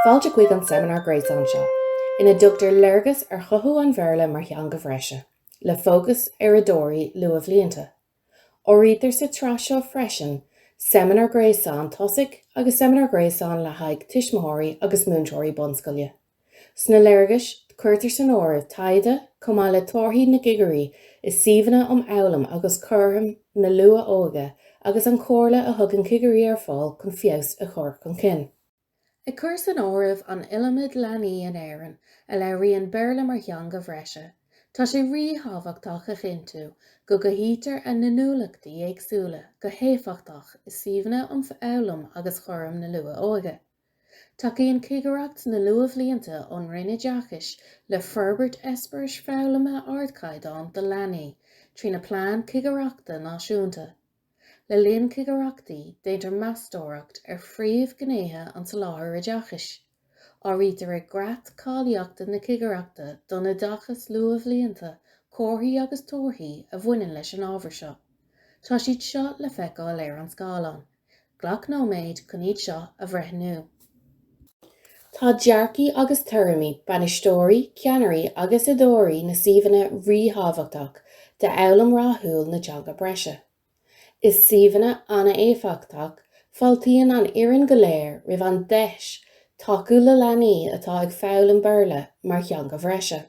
Fáilte chuig an seimineár gréasáin seo, ina dtugtar léargas ar chothú an Bhéarla mar theanga bhreise, le fócas ar oideoirí luathbhlianta. Áirítear sa tsraith seo freisin seimineár gréasáin tosaigh agus seimineár gréasáin le haghaidh tuismitheoirí agus múinteoirí bunscoile. Sna léargais, cuirtear san áireamh taighde chomh maith le torthaí na gcigirí i suíomhanna um fhoghlaim agus cúram na luath-óige agus an chomhairle a thugann cigirí ar fáil chun feabhas a chur chun cinn. Ag cur san áireamh an iliomad leanaí in Éirinn a labhraíonn Béarla mar theanga bhreise, tá sé ríthábhachtach a chinntiú go gcothaítear a n-inniúlachtaí éagsúla go héifeachtach i suíomhanna um fhoghlaim agus chúram na luath-óige. Tacaíonn Cigireacht na Luathbhlianta ón Roinn Oideachais le forbairt eispéiris foghlama ardchaighdeáin do leanaí trína plean cigireachta náisiúnta. Le linn cigireachtaí, déantar meastóireacht ar phríomhghnéithe an tsoláthair oideachais. Áirítear i gcreat cáilíochta na Cigireachta don Oideachas Luathbhlianta comharthaí agus torthaí a bhaineann leis an ábhar seo. Tá siad seo le feiceáil ar an scáileán. Glac nóiméad chun iad seo a bhreithniú. Tá dearcaí agus tuairimí bainisteoirí, ceannairí agus oideoirí na suíomhanna ríthábhachtach d'fhoghlaim rathúil na teanga breise. I suíomhanna an-éifeachtach, fáiltíonn an fhoireann go léir roimh an deis tacú le leanaí atá ag foghlaim Béarla mar theanga bhreise.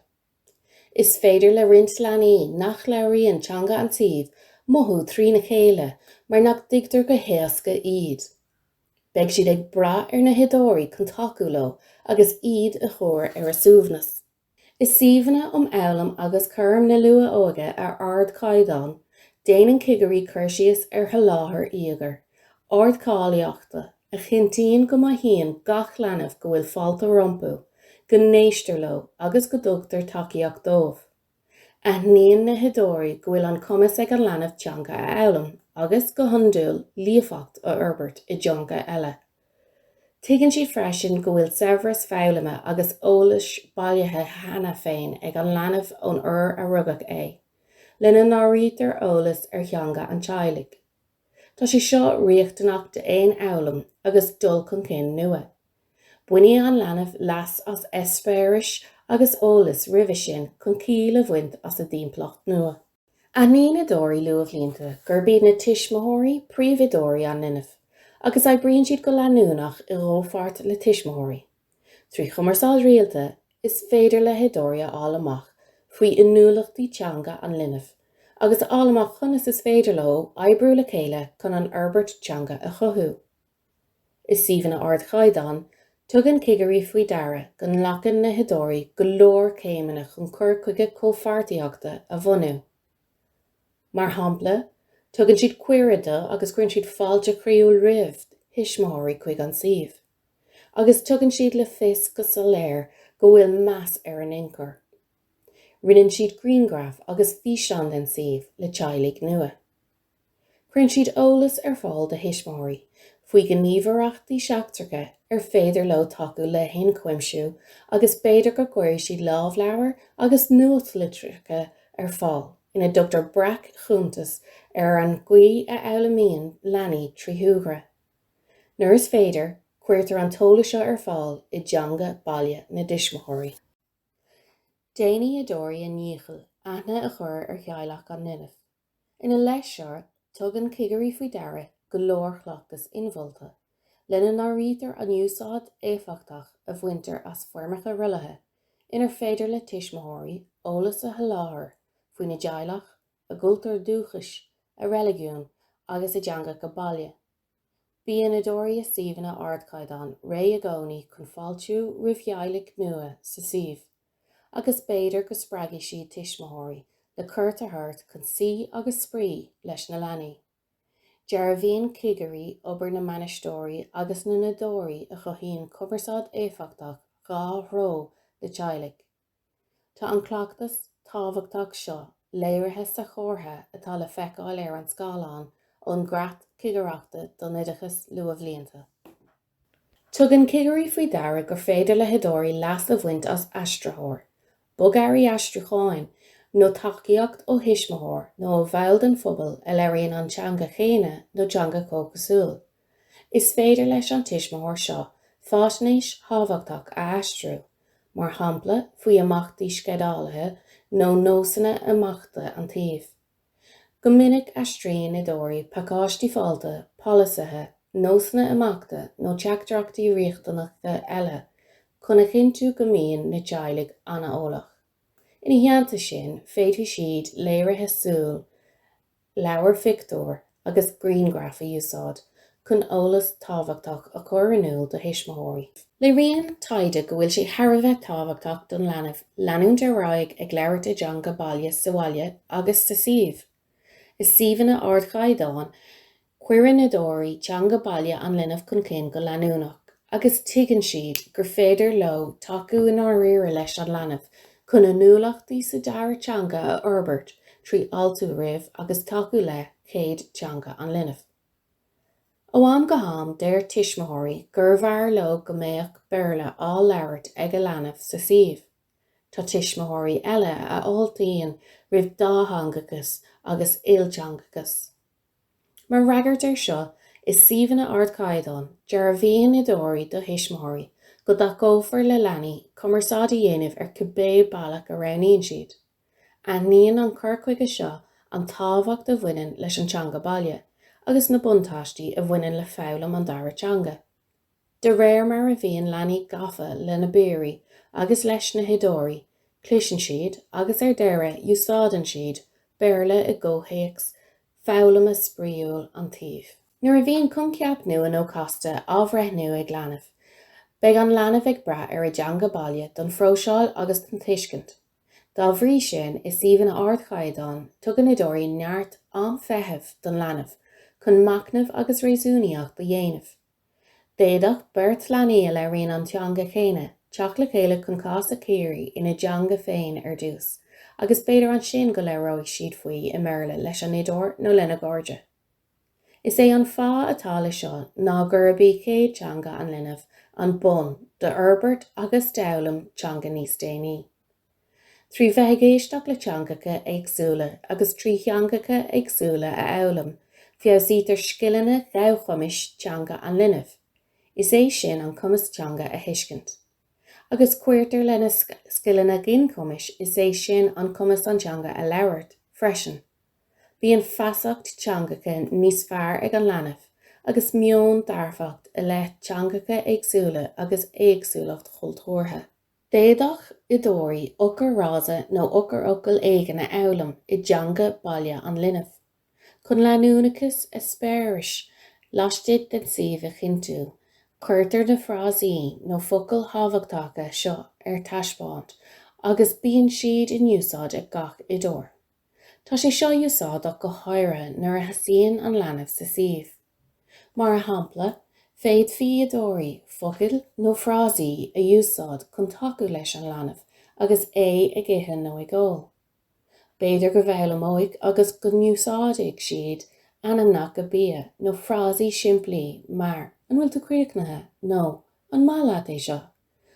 Is féidir le roinnt leanaí nach labhraíonn teanga an tsuímh mothú trína chéile mar nach dtuigtear go héasca iad. Beidh siad ag brath ar na hoideoirí chun tacú leo agus iad a chur ar a suaimhneas. I suíomhanna um fhoghlaim agus chúram na luath-óige ar ardchaighdeán, déanann cigirí cur síos ar sholáthar íogair, ardcháilíochta, a chinntíonn go mothaíonn gach leanbh go bhfuil fáilte rompu, go n-éistear leo agus go dtugtar tacaíocht dóibh. Aithníonn na hoideoirí go bhfuil an cumas ag an leanbh teanga a fhoghlaim agus, go hiondúil, líofacht a fhorbairt i dteanga eile. Tuigeann siad freisin go bhfuil saibhreas foghlama agus eolais bailithe cheana féin ag an leanbh ón uair a rugadh é, lena n-áirítear eolas ar theanga an teaghlaigh. Tá sé seo riachtanach d'aon fhoghlaim agus dul chun cinn nua. Bainfidh an leanbh leas as eispéiris agus eolas roimhe sin chun ciall a bhaint as a dtimpeallacht nua. Aithníonn oideoirí luathbhlianta gurb iad na tuismitheoirí príomhoideoirí an linbh agus oibríonn siad go leanúnach i gcomhpháirt le tuismitheoirí, Trí chumarsáid rialta, is féidir le hoideoirí a fháil amach faoi inniúlachtaí teanga an linbh agus a fháil amach conas is féidir leo oibriú le chéile chun an fhorbairt teanga a chothú. I suíomhanna ardchaighdeáin, tugann cigirí faoi deara go nglacann na hoideoirí go leor céimeanna chun cur chuige comhpháirtíochta a bhunú. Mar shampla, tugann siad cuireadh do, agus cuireann siad fáilte chroíúil roimh thuismitheoirí chuig an suíomh. agus tugann siad le fios go soiléir go bhfuil meas ar a n-ionchur. Roinneann siad grianghraif agus físeáin den suíomh le teaghlaigh nua. Cuireann siad eolas ar fáil do thuismitheoirí faoi ghníomhaireachtaí seachtracha ar féidir leo tacú le hionchuimsiú agus b'fhéidir go gcuirfidh siad lámhleabhair agus nuachtlitreacha ar fáil ina dtugtar breac-chuntas ar an gcaoi a fhoghlaimíonn leanaí trí shúgradh. Nuair is féidir, cuirtear an t-eolas seo ar fáil i dteanga baile na dtuismitheoirí. Déanfaidh oideoirí a ndícheall aithne a chur ar theaghlach an linbh. Ina leith seo, tugann cigirí faoi deara go leor cleachtas inmholta, lena n-áirítear an úsáid éifeachtach a bhaintear as foirmeacha rollaithe inar féidir le tuismitheoirí eolas a sholáthar faoina dteaghlach, a gcultúr dúchais, a reiligiún agus a dteangacha baile. Bíonn oideoirí i suíomhanna ardchaighdeáin réidh i gcónaí chun fáiltiú roimh theaghlaigh nua sa suíomh, agus b'fhéidir go spreagfaidh siad tuismitheoirí le cuairt a thabhairt chun suí agus spraoi leis na leanaí. Dearbhaíonn cigirí obair na mbainisteoirí agus na n-oideoirí a chothaíonn cumarsáid éifeachtach dhá threo le teaghlaigh. Tá an cleachtas tábhachtach seo léirithe sa chomhartha atá le feiceáil ar an scáileán ón gCreat Cigireachta don Oideachas Luathbhlianta. Tugann cigirí faoi deara gur féidir le hoideoirí leas a bhaint as aistritheoir, bogearraí aistriúcháin, nó tacaíocht ó thuismitheoir nó ó bhall den phobal a labhraíonn an teanga chéanna nó teanga chomhchosúil. Is féidir leis an tuismitheoir seo faisnéis thábhachtach a aistriú, mar shampla faoi imeachtaí sceidealaithe nó nósanna imeachta an tsuímh. Go minic aistríonn oideoirí pacáistí fáilte, polasaithe, nósanna imeachta nó teachtaireachtaí riachtanacha eile chun a chinntiú go mbíonn na teaghlaigh an-eolach. Ina theannta sin, féadfaidh siad léirithe súl. leabhair phictiúr agus grianghraif a úsáid chun eolas tábhachtach a chur in iúl do thuismitheoirí. Léiríonn taighde go bhfuil sé thar a bheith tábhachtach don leanbh leanúint ar aghaidh ag labhairt a dteanga baile sa bhaile agus sa suíomh. I suíomhanna ardchaighdeáin, cuireann oideoirí teanga baile an linbh chun cinn go leanúnach. agus tuigeann siad gur féidir leo tacú i ndáiríre leis an leanbh chun inniúlachtaí sa dara teanga a fhorbairt trí fháiltiú roimh agus tacú le chéad teanga an linbh. Ó am go ham deir tuismitheoirí gurbh fhearr leo go mbeadh Béarla á labhairt ag a leanbh sa suíomh. Tá tuismitheoirí eile a fháiltíonn roimh dátheangachas agus ilteangachas. Mar fhreagairt air seo, i suíomhanna ardchaighdeáin, dearbhaíonn oideoirí do thuismitheoirí go dtacófar le leanaí cumarsáid a dhéanamh ar cibé bealach a roghnaíonn siad. Aithníonn an cur chuige seo an tábhacht a bhaineann leis an teanga baile agus na buntáistí a bhaineann le foghlaim an dara teanga. De réir mar a bhíonn leanaí gafa lena bpiaraí agus leis na hoideoirí, cloiseann siad agus ar deireadh úsáideann siad Béarla i gcomhthéacs foghlama spraíúil an tsuímh. Nuair a bhíonn coincheap nua nó casta á bhreithniú ag leanbh, beidh an leanbh ag brath ar a dteanga baile don phróiseáil agus don tuiscint. Dá bhrí sin, i suíomhanna ardchaighdeáin, tugann oideoirí neart am feithimh don leanbh chun machnamh agus réasúnaíocht a dhéanamh. D'fhéadfadh beirt leanaí a labhraíonn an teanga chéanna teacht le chéile chun cás a chíoradh ina dteanga féin ar dtús agus b'fhéidir ansin go labhróidh siad faoi i mBéarla leis an oideoir nó lena gcairde. Is é an fáth atá leis seo ná gurb í chéad teanga an linbh an bonn d'fhorbairt agus d'fhoghlaim teanga níos déanaí. Trí bheith ag éisteacht le teangacha éagsúla agus trí theangacha éagsúla a fhoghlaim, feabhsaítear scileanna gabhchumais teanga an linbh, is é sin an cumas teanga a thuiscint, agus cuirtear lena scileanna ginchumais, is é sin an cumas an teanga a labhairt, freisin. Bíonn feasacht teangacha níos fearr ag an leanbh agus meon dearfach i leith teangacha éagsúla agus éagsúlacht chultúrtha. D'fhéadfadh oideoirí eochairfhrása nó eochairfhocal éigin a fhoghlaim i dteanga baile an linbh, chun leanúnachas eispéiris laistigh den suíomh a chinntiú. Cuirtear na frásaí nó focail thábhachtacha seo ar taispeáint agus bíonn siad in úsáid ag gach oideoir. Tá sé seo úsáideach go háirithe nuair a thosaíonn an leanbh sa suíomh. Mar shampla, féadfaidh oideoirí focail nó frásaí a úsáid chun tacú leis an leanbh agus é ag ithe nó ag ól. B'fhéidir go bhfoghlaimeoidh agus go n-úsáidfidh siad ainmneacha bia nó frásaí simplí mar 'An bhfuil tú críochnaithe? nó 'An maith leat é seo?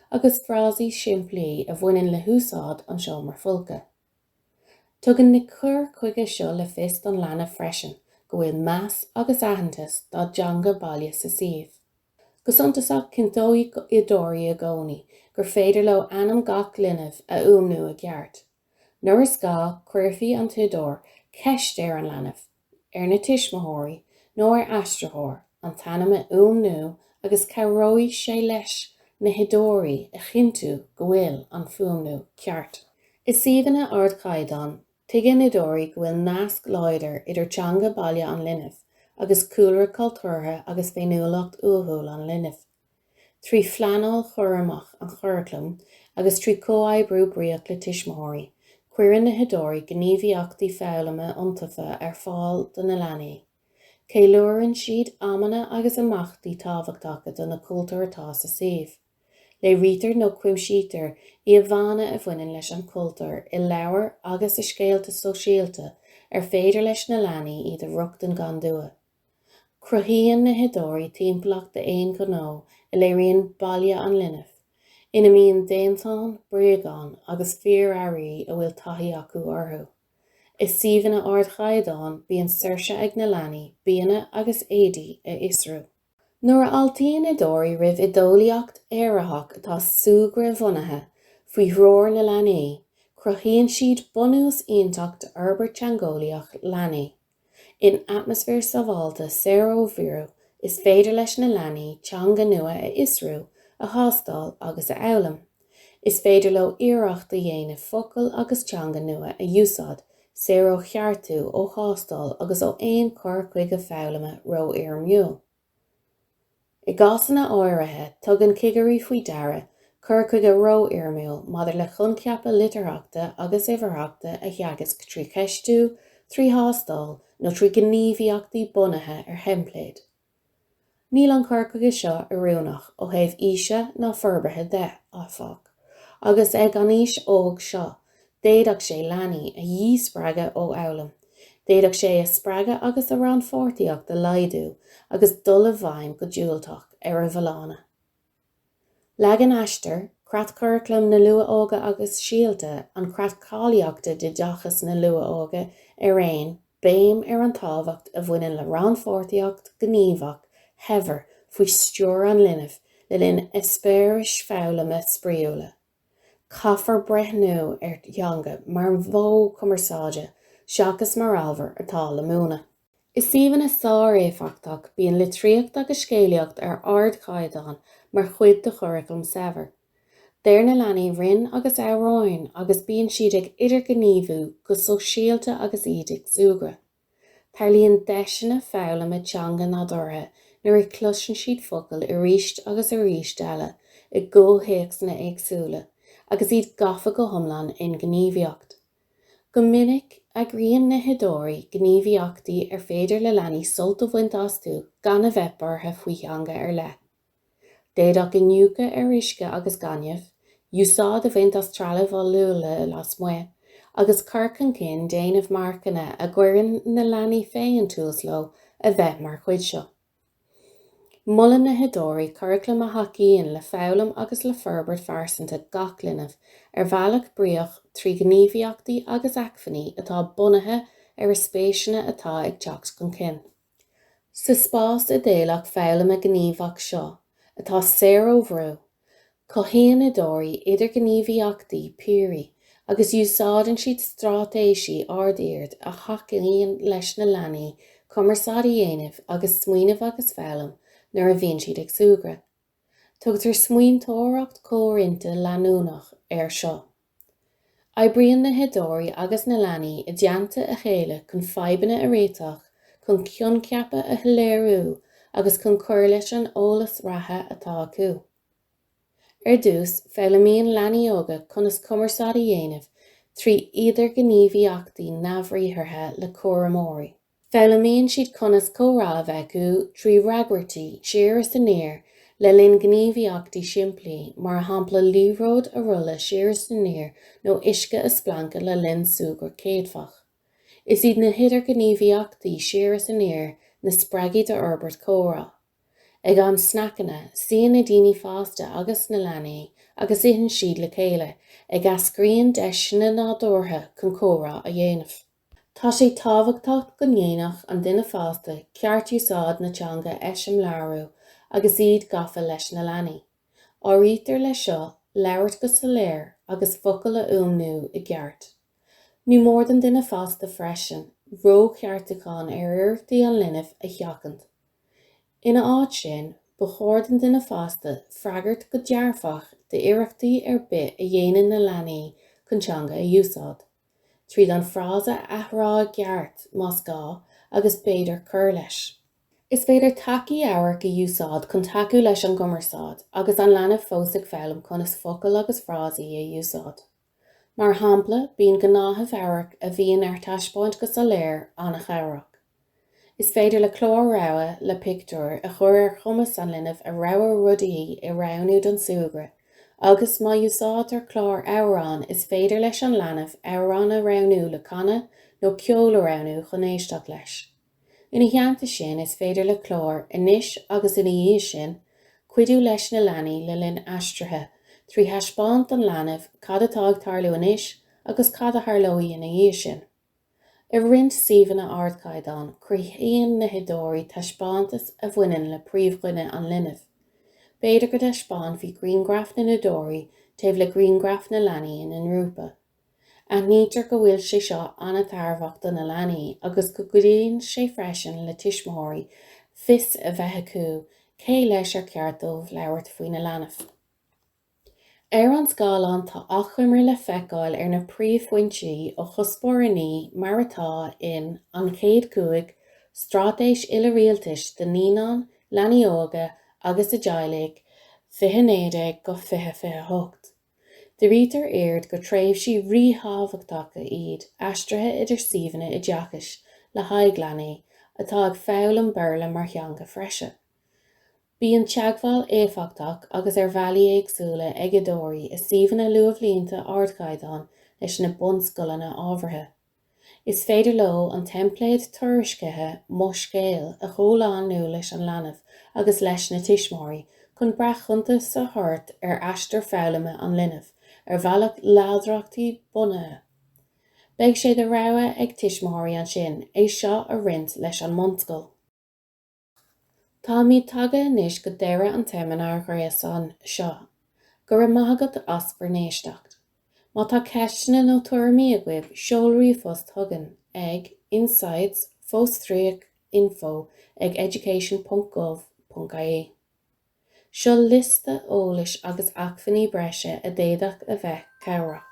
agus frásaí simplí a bhaineann le húsáid an seomra folctha. Tugann na cur chuige seo le fios don leanbh freisin go bhfuil meas agus aitheantas dá dteanga baile sa suíomh. Go suntasach, cinnteoidh oideoirí i gcónaí gur féidir leo ainm gach linbh a fhuaimniú i gceart. Nuair is gá, cuirfidh an t-oideoir ceist ar an leanbh, ar na tuismitheoirí nó ar aistritheoir an t-ainm a fhuaimniú agus cabhróidh sé leis na hoideoirí a chinntiú go bhfuil an fuaimniú ceart. I suíomhanna ardchaighdeáin, tuigeann oideoirí go bhfuil nasc láidir idir teanga baile an linbh agus cúlra cultúrtha agus féiniúlacht uathúil an linbh. trí phleanáil chúramach an churaclaim agus trí comhoibriú bríoch le tuismitheoirí, cuireann na hoideoirí gníomhaíochtaí foghlama iontaofa ar fáil do na leanaí, ceiliúrann siad amanna agus imeachtaí tábhachtacha do na cultúir atá sa suíomh, léirítear nó cuimsítear íomhánna a bhaineann leis an chultúr i leabhair agus i scéalta sóisialta ar féidir leis na leanaí iad a rochtain gan dua. Cruthaíonn na hoideoirí timpeallacht d'aon ghnó a léiríonn baile an linbh, ina mbíonn déantáin, bréagáin agus fíorearraí a bhfuil taithí acu orthu. I suíomhanna ardchaighdeáin bíonn saoirse ag na leanaí bianna agus éadaí a fhiosrú. Nuair a fháiltíonn oideoirí roimh oideolaíocht éiritheach atá súgradhbhunaithe, faoi threoir na leanaí, cruthaíonn siad bunús iontach d'fhorbairt teangeolaíoch leanaí. In atmaisféar sábháilte saor ó bhrú, is féidir leis na leanaí teanga nua a fhiosrú, a thástáil agus a fhoghlaim. Is féidir leo iarracht a dhéanamh focail agus teanga nua a úsáid, saor ó cheartú, ó thástáil agus ó aon chur chuige foghlama rófhoirmiúil. I gcásanna áirithe, tugann cigirí faoi deara cur chuige rófhoirmiúil maidir le coincheapa litearthachta agus uimhearthachta a theagasc trí cheistiú, trí thástáil nó trí ghníomhaíochtaí bunaithe ar theimpléid. Níl an cur chuige seo oiriúnach ó thaobh aoise ná forbartha de, áfach, agus ag an aois óg seo, D'fhéadfadh sé leanaí a dhíspreagadh ó fhoghlaim, d'fhéadfadh sé a spreagadh agus a rannpháirtíocht a laghdú agus dul i bhfeidhm go diúltach ar a bhfolláine. Leagann Aistear, Creatchuraclam na Luath-Óige agus Síolta, an Creat Cáilíochta d'Oideachas na Luath-Óige araon, béim ar an tábhacht a bhaineann le rannpháirtíocht ghníomhach shaibhir faoi stiúir an linbh le linn eispéiris foghlama spraíúla. Caithfear breithniú ar theanga mar mhodh cumarsáide seachas mar ábhar atá le múineadh. I suíomhanna sár-éifeachtach, bíonn litríocht agus scéalaíocht ar ardchaighdeán mar chuid de churaclam saibhir. Deir na leanaí rainn agus amhráin agus bíonn siad ag idirghníomhú go sóisialta agus iad ag súgradh. Tarlaíonn deiseanna foghlama teanga nádúrtha nuair a chloiseann siad focail arís agus arís eile i gcomhthéacsanna éagsúla agus iad gafa go hiomlán i ngníomhaíocht. Go minic, eagraíonn na hoideoirí gníomhaíochtaí ar féidir le leanaí sult a bhaint astu gan a bheith buartha faoi theanga ar leith. D'fhéadfadh iniúchadh ar uisce agus gaineamh, úsáid a bhaint as trealamh oll-luaile lasmuigh, agus cur chun cinn déanamh marcanna a gcuireann na leanaí féin tús leo a bheith mar chuid seo. Molann na hoideoirí curaclam a thacaíonn le foghlaim agus le forbairt phearsanta gach linbh ar bhealach bríoch trí ghníomhaíochtaí agus acmhainní atá bunaithe ar a spéiseanna atá ag teacht chun cinn. Sa spás idéalach foghlama gníomhach seo, atá saor ó bhrú, cothaíonn oideoirí idirghníomhaíochtaí piaraí agus úsáideann siad straitéisí ard-oird a thacaíonn leis na leanaí cumarsáid a dhéanamh agus smaoineamh agus foghlaim nuair a bhíonn siad ag súgradh. Tugtar smaointeoireacht chomhroinnte leanúnach air seo. Oibríonn na hoideoirí agus na leanaí i dteannta a chéile chun fadhbanna a réiteach, chun coincheapa a shoiléiriú agus chun cur leis an eolas reatha atá acu. Ar dtús, foghlaimíonn leanaí óga conas cumarsáid a dhéanamh trí idirghníomhaíochtaí neamhbhriathartha le cúramóirí. Foghlaimíonn siad conas comhrá a bheith acu trí fhreagairtí siar is aniar le linn gníomhaíochtaí simplí, mar shampla liathróid a rolladh siar is aniar nó uisce a splancadh le linn súgradh céadfach. Is iad na hidirghníomhaíochtaí siar is aniar na spreagthaí d'fhorbairt comhrá. Ag am sneaiceanna, suíonn na daoine fásta agus na leanaí agus itheann siad le chéile, ag eascraíonn deiseanna nádúrtha chun comhrá a dhéanamh. Tá sé tábhachtach go ndéanfadh an duine fásta ceartúsáid na teanga a eiseamláiriú agus iad gafa leis na leanaí. Áirítear leis seo labhairt go soiléir agus focail a fhuaimniú i gceart. Ní mór don duine fásta freisin rócheartúcháin ar iarrachtaí an linbh a sheachaint. Ina áit sin, ba chóir don duine fásta freagairt go dearfach d'iarrachtaí ar bith a dhéanann na leanaí chun teanga a úsáid. tríd an frása a athrá i gceart, más gá, agus b'fhéidir cur leis. Is féidir tacaí amhairc a úsáid chun tacú leis an gcumarsáid agus an leanbh fós ag foghlaim conas focail agus frásaí a úsáid. Mar shampla, bíonn gnáthamh amhairc a bhíonn ar taispeáint go soiléir an-chabhrach. Is féidir le clár rogha le pictiúir a chur ar chumas an linbh a rogha rudaí a roghnú don súgradh agus, má úsáidtear clár amhrán, is féidir leis an leanbh amhrán a roghnú le canadh nó ceol a roghnú chun éisteacht leis. Ina theannta sin, is féidir le clár anois agus ina dhiaidh sin, cuidiú leis na leanaí le linn aistrithe trí thaispeáint don leanbh cad atá ag tarlú anois agus cad a tharlóidh ina dhiaidh sin. I roinnt suíomhanna ardchaighdeáin, cruthaíonn na hoideoirí taispeántas a bhaineann le príomhdhuine an linbh. B'fhéidir go dtaispeánfaí grianghraif na n-oideoirí taobh le grianghraif na leanaí ina ngrúpa. Aithnítear go bhfuil sé seo an-tairbheach do na leanaí agus go gcuidíonn sé freisin le tuismitheoirí fios a bheith acu cé leis ar cheart dóibh labhairt faoina leanbh. Ar an scáileán tá achoimre le feiceáil ar na príomhphointí ó Chuspóir 9 mar atá in An Chéad Cúig, Straitéis Uile-Rialtais do Naíonáin, Leanaí Óga agus a dTeaghlaigh 2019-2028. Dírítear aird gur tréimhsí ríthábhachtacha iad aistrithe idir suíomhanna oideachais le haghaidh leanaí atá ag foghlaim Béarla mar theanga bhreise, Bíonn teagmháil éifeachtach agus ar bhealaí éagsúla ag oideoirí i suíomhanna luathbhlianta ardchaighdeáin leis na bunscoileanna ábhartha. Is féidir leo an teimpléad tuairiscithe 'Mo Scéal' a chomhlánú leis an leanbh agus leis na tuismitheoirí chun breac-chuntas a thabhairt ar aistear foghlama an linbh ar bhealach láidreachtaí-bhunaithe. Beidh sé de rogha ag tuismitheoirí ansin é seo a roinnt leis an mbunscoil. Táimid tagtha anois go deireadh an tseimineáir ghréasáin seo. Go raibh maith agat as bhur n-éisteacht. Má tá ceisteanna nó tuairimí agaibh, seol ríomhphost chugainn ag, insights, fostríoc, info, ag, education.gov.ie. Seo liosta eolais agus acmhainní breise a d'fhéadfadh a bheith cabhrach.